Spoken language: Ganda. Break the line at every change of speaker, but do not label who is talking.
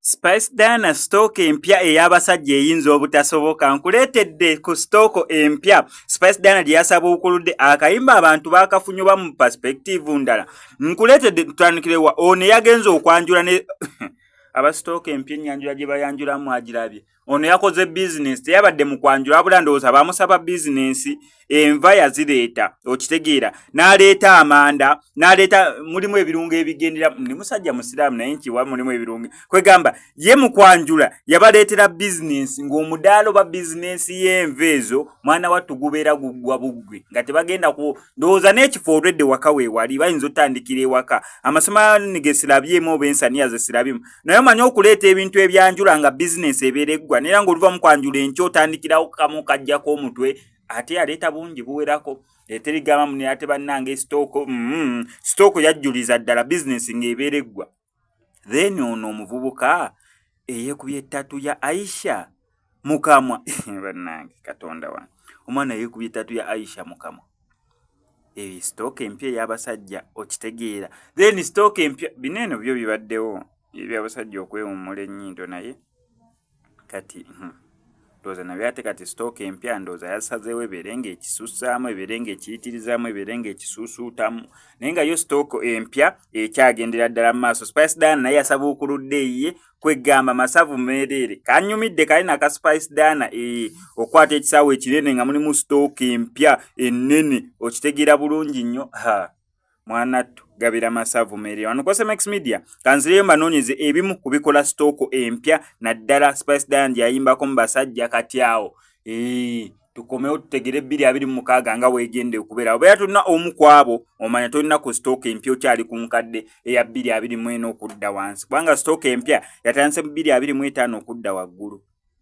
Spice Diana stock empya ey'abasajja eyinza obutasoboka nkuleetedde ku stock empya Spice Diana gye yasabuukuludde akayimba abantu baakafunye oba mu perspective ndala nkuleetedde tutandikire wa ono eyagenze okwanjula ne abasitooka empya ennyanjula gye bayanjulamu agirabye ono yakoze bizinensi teyabadde mu kwanjula wabula ndowooza bamusaba bizinensi enva yazireeta okitegeera n'aleeta amanda n'aleeta mulimu ebirungo ebigendera ni musajja musiraamu naye nkiwa mulimu ebirungo kwegamba ye mu kwanjula yabaleetera bizinensi ng'omudaalo ba bizinensi y'enva ezo mwana wattu gubeera guggwa buggwe nga tebagenda ku ndowooza n'ekifo olwedde waka weewali bayinza otandikira ewaka amasomo ani ge sirabyemu oba ensaniya ze sirabyemu naye omanyi okuleeta ebintu ebyanjula nga bizinensi ebeera eggwa naera ng'oluva mu kwanjula enkyo otandikirawo kamu kajjako omutwe ate yaleeta bungi buwerako eterigamba mune ate bannanga esitooko mm-hmm. sitooko yajjuliza ddala bizinensi ng'ebeera eggwa then ono omuvubuka eyekubye tatu ya aisha mukamwa banange katonda wange omwana yekubye tatu ya aisha mukamwa eyo stock empya ey'abasajja okitegeera then stock empya bino eno byo bibaddewo ebyabasajja okwewummula ennyindo naye kati hmm. ndowooza nabyo ate kati sitooka empya ndowooza yasazeewo ebeere nga ekisussaamu ebeere nga ekiyitirizaamu ebeere nga ekisuusuutamu naye nga yo sitooko empya ekyagendera ddala mu maaso spice dana naye yasabuukuludde eyiye kwegamba masavu meereere kanyumidde kali naka spice dana ee okwata ekisaawo ekinene nga mulimu sitooka empya ennene okitegeera bulungi nnyo ha mwanattu gabira masavu meere wano kose max media kanzireyo mbanoonyeze ebimu ku bikola sitooko empya naddala spice dian gyayimbako mu basajja kati awo ee tukomewo tutegere ebbiri abiri mu mukaaga nga weegende okubeera obeera tulina omu ku abo omanya tolina ku sitooka empya okyali ku nkadde eya bbiri abiri mu ena okudda wansi kubanga sitooka empya yatandise mu bbiri abiri mu etaano okudda waggulu